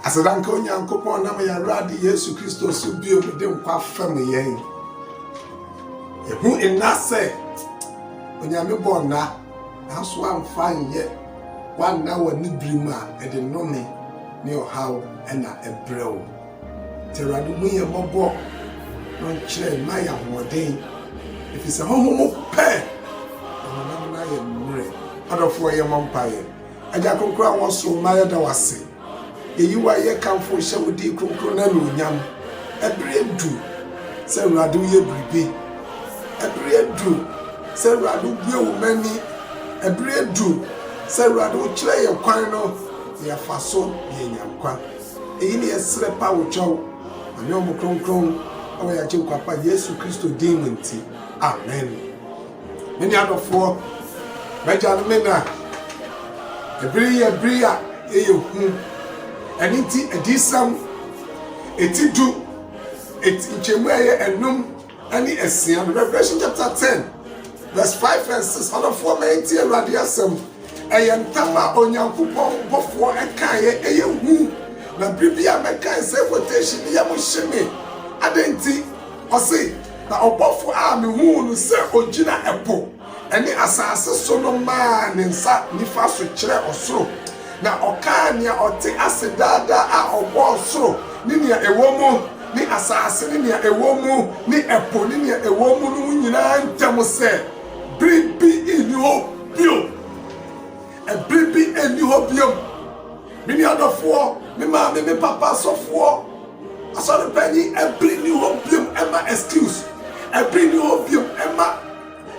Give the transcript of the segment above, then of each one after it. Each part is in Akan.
Aseda nka Onyankopɔn nam yɛn Awurade Yesu Kristo so bio de nkwa fam yɛn. Ehu nna sɛ Onyame bɔ nna nanso amfa nyɛ wanna wɔ ne bere mu a ɛde nnome ne ɔhaw na ɛbrɛ wo. Te Awurade hu yɛn mmɔbɔ na ɔnkyerɛ mma yɛ ahoɔden ɛfiri sɛ honhom pɛ na honam no ayɛ mmerɛ. Adɔfoɔ yɛ mmɔ mpaeɛ. Agya Kronkron a wɔsoo ma yɛda wo ase. Yɛyi wo a yɛkamfo wo hyɛ wo din kronkron no anuonyam. Ɛbere adu sɛ Awurade woyɛ biribi. Ɛbere adu sɛ Awurade wobue wo mma ani. Ɛbere adu sɛ Awurade wokyerɛ yɛn kwan no na yɛfa so na yɛanya nkwa. Eyi ne yɛsrɛ pa wo kyɛw ma ne ɔmo kronkron ɛwɔ yɛn Agyenkwa pa Yesu Kristo din mu nti. Amen. Me nuadɔfoɔ, m'agya ne me na, ɛbere yi yɛ bere a ɛyɛ hu. Ɛno nti, adiyisɛm eti du, eti nkyɛmu a ɛyɛ anum ne asia no, Revelation chapter ten, verse five and six. Ɔdɔfoɔ, ma yɛntie Awurade asɛm. Ɛyɛ ntam a Onyankopɔn bɔfoɔ ɛkaeɛ, ɛyɛ hu. Na bere bi a mɛkae sɛ quotation, ne yam hye me. Adɛn nti? Ɔse, Na ɔbɔfo a mehuu no sɛ ogyina ɛpo ne asase so no maa ne nsa nifa so kyerɛɛ ɔsoro, na ɔkaa nea ɔte ase daa daa a ɔbɔɔ soro ne nea ɛwɔ mu, ne asase ne nea ɛwɔ mu, ne ɛpo ne nea ɛwɔ mu no ho nyinaa ntam sɛ, Bere bi nni hɔ bio! Bere bi nni hɔ bio! Me nua dɔfoɔ, me maame, me papa asɔfoɔ, asɔrepani, ɛbere nni hɔ biom ɛma excuse, ɛbere nni hɔ biom ɛma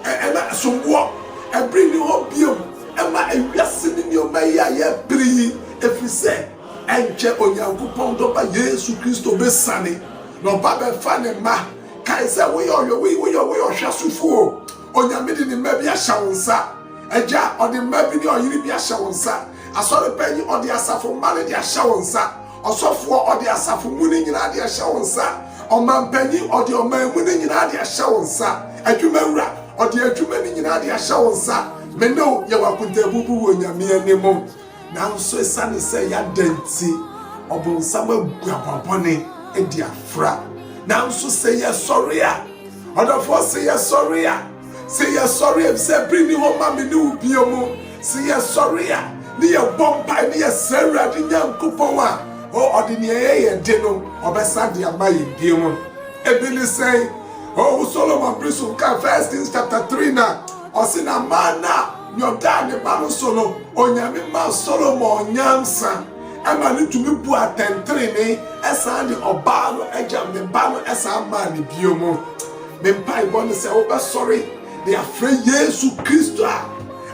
ɛma somboɔ, ɛbere nni hɔ biom ɛma ewiase ne nneɛma yi a yɛbere yi, ɛfiri sɛ ɛnkyɛ Onyankopɔn dɔba Yesu Kristo bɛsiane na ɔba bɛfa ne mma. Kae sɛ woyɛ ɔyɛ woyɛ ɔhwɛsofoɔ. Onyame de ne mma bi ahyɛ wo nsa. Agya, ɔde mma bi ne ɔyere bi ahyɛ wo nsa. Asɔre panyin, ɔde asafo mma no de ahyɛ wo nsa. Ɔsɔfoɔ, ɔde asafo mu no nyinaa de ahyɛ wo nsa. Ɔmampanyin, ɔde ɔman mu no nyinaa de ahyɛ wo nsa. Adwumawura, ɔde adwuma no nyinaa de ahyɛ wo nsa. Me ne wo yɛ wɔ akontaabu bi wɔ Onyame anim. Nanso esiane sɛ yɛada nti, Ɔbonsam abu abɔbɔne de afra. Nanso sɛ yɛsɔre a, ɔdɔfoɔ, sɛ yɛsɔre a, sɛ yɛsɔre a, efisɛ bere nni hɔ ma me ne wo bio mu, sɛ yɛsɔre a, ne yɛbɔ mpae, ne yɛsrɛ Awurade Nyankopɔn a, o, ɔde nea ɛyɛ yɛn de no, ɔbɛsan de ama yɛn bio mu. Ebi ne sɛn? O, Solomon bere so nka First Kings chapter three na. Ɔse na maa no a nyɔdaa ne ba no so no, Onyame maa Solomon nyansa ɛma no tumi buu atɛntrenee ɛsan de ɔbaa no agyam ne ba no ɛsan maa no bio mu. Me mpaebɔ ne sɛ wobɛsɔre de afrɛ Yesu Kristo a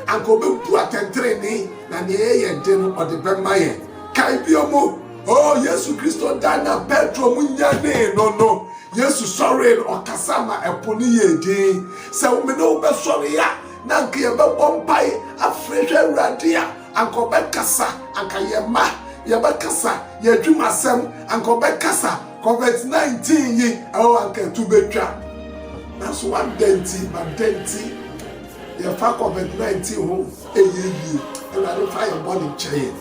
anka ɔbɛbu atɛntrenee na nea ɛyɛ yɛn de no ɔde bɛma yɛn. Kae bio mu. O Yesu Kristo da na Petro mu nyanee no no, Yesu sɔree no, ɔkasa ma ɛpo no yɛɛ dinn. Sɛ wo mene wo bɛsɔre a, na anka yɛbɛbɔ mpae afrɛ hwɛ Awurade a, anka ɔbɛkasa, anka yɛn mma yɛbɛkasa, yɛn adwuma asɛm anka ɔbɛkasa, COVID-19 yi, ɛwɔ anka ɛto bɛtwa. Nanso wadɛn nti, madɛn nti yɛfa COVID-19 ho ɛyɛ yie, Awurade fa yɛn bɔne kyɛ yɛn.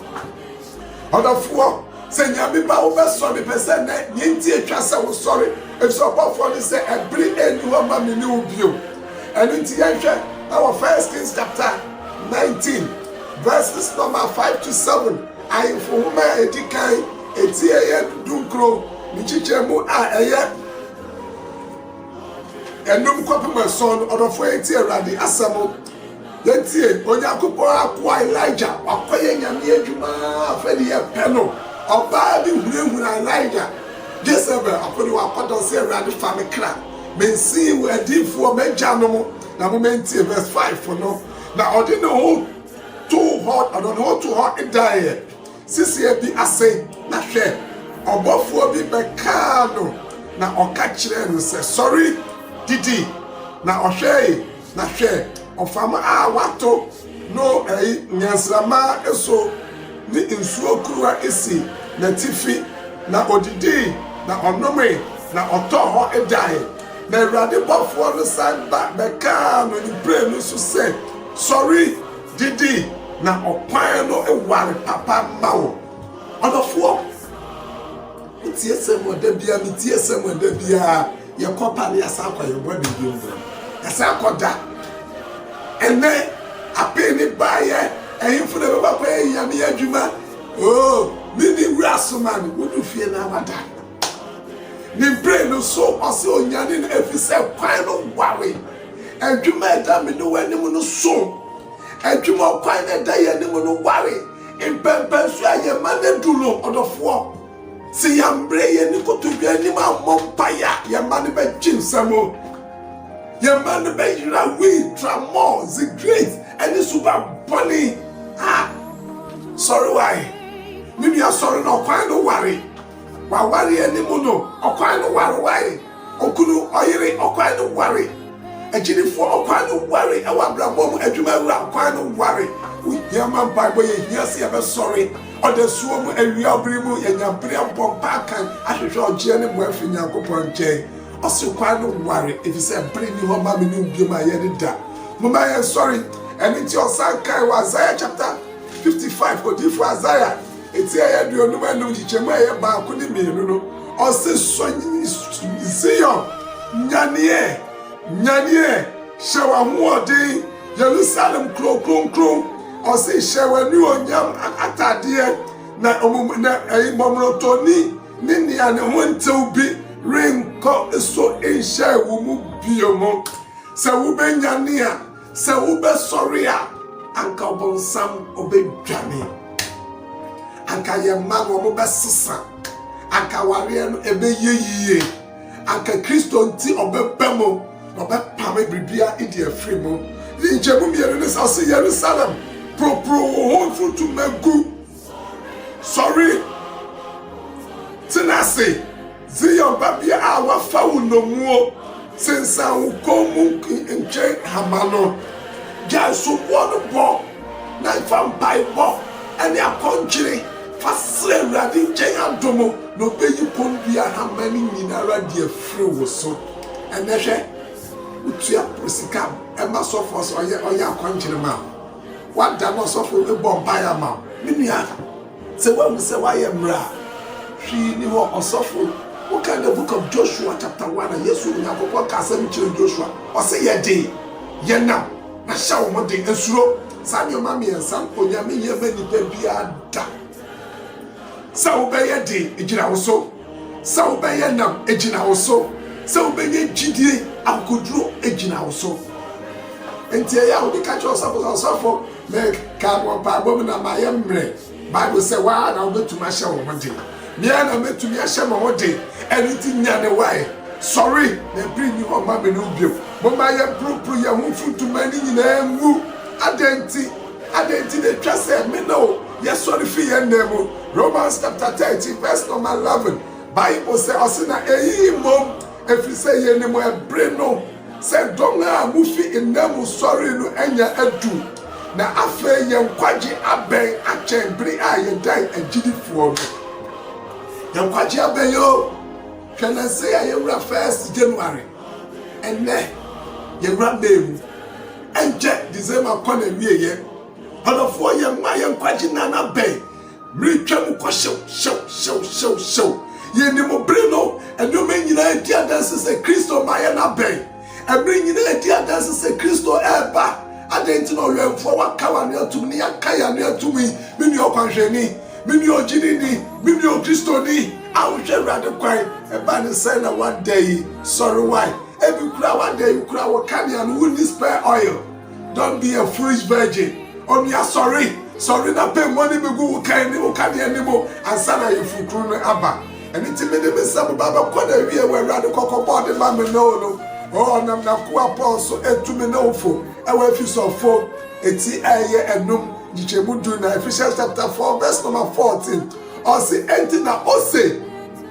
Ɔdɔfoɔ, sɛ Nyame ba wo bɛsɔ me pɛ sɛ nɛ, neɛ nti ɛtwa sɛ wo sɔre, ɛfisɛ ɔbɔfoɔ no sɛ ɛbere ɛnni hɔ ma me ne wo bio. Ɛno nti yɛnhwɛ ɛwɔ First Kings chapter 19 verses number 5 to 7, Ahemfo Nwoma a ɛdi kan, ɛti ɛyɛ dunkron, ne nkyekyɛmu a ɛyɛ ɛnum kɔpem ason no, ɔdɔfoɔ yɛntie Awurade asɛm. Yɛtie Onyankopɔn akoa Elijah, wakɔyɛ Nyame adwuma ara fɛ de yɛpɛ no. Ɔbaa bi hunahuna Elijah, Jezebel akode wakɔda ɔse Awurade fa me kra, mensee wo adiyifoɔ m'agya nom na mo mantie verse 5 no na ɔde ne ho too hɔ ɔdɔ ne ho too hɔ daeɛ seseɛ bi ase na hwɛ ɔbɔfoɔ bi bɛkaa no na ɔka kyerɛɛ no sɛ sɔre didi na ɔhwɛe Na hwɛ, ɔfam a wɔato no ayi nnyansramma so ne nsuo kuruwa si n'atifi, na ɔdidii, na ɔnomee, na ɔtɔɔ hɔ dae. Na Awurade bɔfoɔ no san ba bɛkaa no mprenu so sɛ, Sɔre, didi, na ɔkwan no ware papa mma wo. Ɔdɔfoɔ. Metie Samuel da biara, metie Samuel da biara. Yɛkɔ pa ne yɛasan akɔ yɛn bɔ da bio no. Yɛsan akɔ da. Ɛnɛ apee ne baayɛ ɛhemfo na ɛbɛba kɔ yɛ nyame adwuma. Oo, me ne wura asoma no, wodu fie na wada. Ne mpire no so ɔsɛ onyane no ɛfiri sɛ kwan no ware. Adwuma ɛda me ne w'anim no so. Adwuma ɔkwan na ɛda yɛn anim no ware. Mpɛnpɛnso a yɛn ma no adu no, ɔdɔfoɔ, sɛ yɛammrɛ yɛn ne kotodwe anim ammɔ mpaeɛ a, yɛn ma no bɛgye nsam. Yɛn ma no bɛyera wii, tramɔɔ, zigreit, ne suba bɔne. Ha! Sɔre wae. Me nua sɔre na ɔkwan no ware. W'awareɛ no mu no, ɔkwan no ware wae. Okunu ɔyere ɔkwan no ware. Agyidifo ɔkwan no ware ɛwɔ abrabɔ mu. Adwuma wura ɔkwan no ware. Ohia ma mpaebɔ yɛ hia sɛ yɛbɛsɔre ɔdasuo mu awia bere mu. Yɛnya bere abɔ mpaa kan ahwehwɛ ɔgyeɛ ne mmoa firi Nyankopɔn nkyɛn. Ɔse ɔkwan no ware efisɛ bere nni hɔ ma me ne wo biom a yɛde da. Momma yɛnsɔre. Ɛno nti ɔsan kae wɔ Isaiah chapter 55, odiyifoɔ Isaiah. Eti ɛyɛ aduonum anum nkyekyɛmu a ɛyɛ baako ne mmienu no, ɔse, Sɔ Zion, nyaneɛ, nyaneɛ, hyɛ w'ahoɔden, Yerusalem kuro kronkron, ɔse, hyɛ w'anuonyam atadeɛ, na mmɔmorɔtɔni ne nea ne ho ntew bi renkɔ so nhyɛɛ wo mu bio mo, sɛ wobɛnyane a. Sɛ wobɛsɔre a, anka ɔbonsam ɔbɛdwane. Anka yɛn mma no wɔbɛsesa. Anka awareɛ no ɛbɛyɛ yie. Anka Kristo nti ɔbɛba mu na ɔbɛpame biribiara ɛdi afiri mu. Nkyɛmu mmienu ne sɛ ɔsɛ Yerusalem, poroporo wo ho nso tumɛ gu. Sɔre! Tena ase, Zion babea a wafa wo nnomuo, sensan wo kɔn mu ntwe hama no. Gyae soboɔ no bɔ na fa mpaebɔ ne akɔnkyere fa srɛ Awurade nkyɛn adom, na ɔbɛyi kɔndua hama no nyinara de afiri wo so. Ɛnnɛ hwɛ, wotua sika ma sɔfoɔ sɛ ɔyɛ akɔnkyere ma wo. W'ada na ɔsɔfo rebɔ mpaeɛ ama wo. Me nua, sɛ woahu sɛ woayɛ mmerɛ a, hwee nni hɔ, ɔsɔfo. Wokan the book of Joshua chapter one a, Yesu, Onyankopɔn kaa asɛm bi kyerɛɛ Joshua, ɔse, Yɛ den, yɛ nnam, na hyɛ wo ho den, nsuro. Saa nneɛma mmiɛnsa no, Onyame nyɛ mma nnipa biara da. Sɛ wobɛyɛ den, ɛgyina wo so. Sɛ wobɛyɛ nam gyina wo so, sɛ wobɛnya gyidie akokoduro gyina wo so. Nti ɛyɛ a wode ka kyerɛ ɔsɔfo sɛ ɔsɔfo meka wɔ mpaebɔ mu na mayɛ mmerɛ. Bible sɛ waa na wobɛtumi ahyɛ wo ho den. Mea na mɛtumi ahyɛ me ho den. Ɛno nti nyane wae, sɔre na ɛpere nni hɔ mma me ne wo bio. Momma yɛmporoporo yɛn ho mfutuma no nyinaa ngu. Adɛn nti? Adɛn nti na ɛtwa sɛ me ne wo Yɛsɔre fi yɛn nna mu. Romans chapter thirteen verse number eleven, Bible sɛ ɔse na eyi mmom efiri sɛ yɛnim ɛbere no sɛ dɔn a mufi nna mu sɔree no anya adu, na afei yɛn nkwagye abɛn akyɛn bere a yɛdan agyidifoɔ no. Yɛn nkwagye abɛn o! Hwɛ nansei a yɛwura first January, ɛnɛ yɛwura May mu, ɛnkyɛ December kɔ n'awieɛ. Ɔdɔfoɔ yɛn mma yɛn nkwagye nna no abɛn meretwa mu kɔ hyew hyew hyew hyew hyew yɛnim bere no nneɛma nyinaa di adanse sɛ kristo mmaeɛ no abɛn ɛbere nyinaa di adanse sɛ kristo ɛreba adɛn nti na ɔwɛmfoɔ waka w'ano atum ne yɛaka yɛn ano atum yi me nua ɔkwanhwɛni me nua ɔgyini ni me nua ɔkristoni a wohwɛ awurade kwan ɛba ne sɛ na wada yi sɔre wae ebi kura wada yi kura wɔ kanea no wonni spare oil Don't be a foolish virgin. Onua sɔre, sɔre na pɛ mu ani begu wo kan ne wo kane anim ansa na ayeforokunu no aba. Ɛno nti mede me nsa bɛba bɛkɔ na awie wɔ Awurade kɔkɔbɔ ɔde ma me ne wo no. O, ɔnam n'akoa Paul so etu me ne wo fo ɛwɔ Efesofo eti a ɛyɛ anum nkyekyɛmu du na Ephesians chapter 4 verse number 14. Ɔse, enti na ose,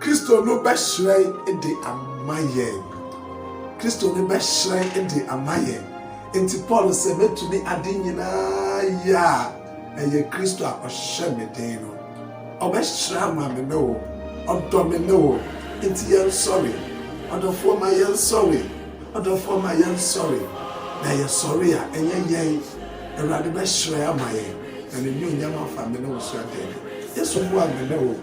Kristo no bɛhyerɛn de ama yɛn. Kristo no bɛhyerɛn de ama yɛn. Enti Paul sɛ, Mɛtumi ade nyinaa yɛ a ɛyɛ Kristo a ɔhyɛ me den no. Ɔbɛhyerɛn ama me ne wo. Ɔdɔ me ne wo. Enti yɛnsɔre. Ɔdɔfoɔ ma yɛnsɔre. Ɔdɔfoɔ ma yɛnsɔre. Na yɛsɔre a, ɛnyɛ yɛn. Awurade bɛhyerɛn ama yɛn. Na N'anuonyam afa me ne wo so adɛɛdɛ. Yesu boa me ne wo.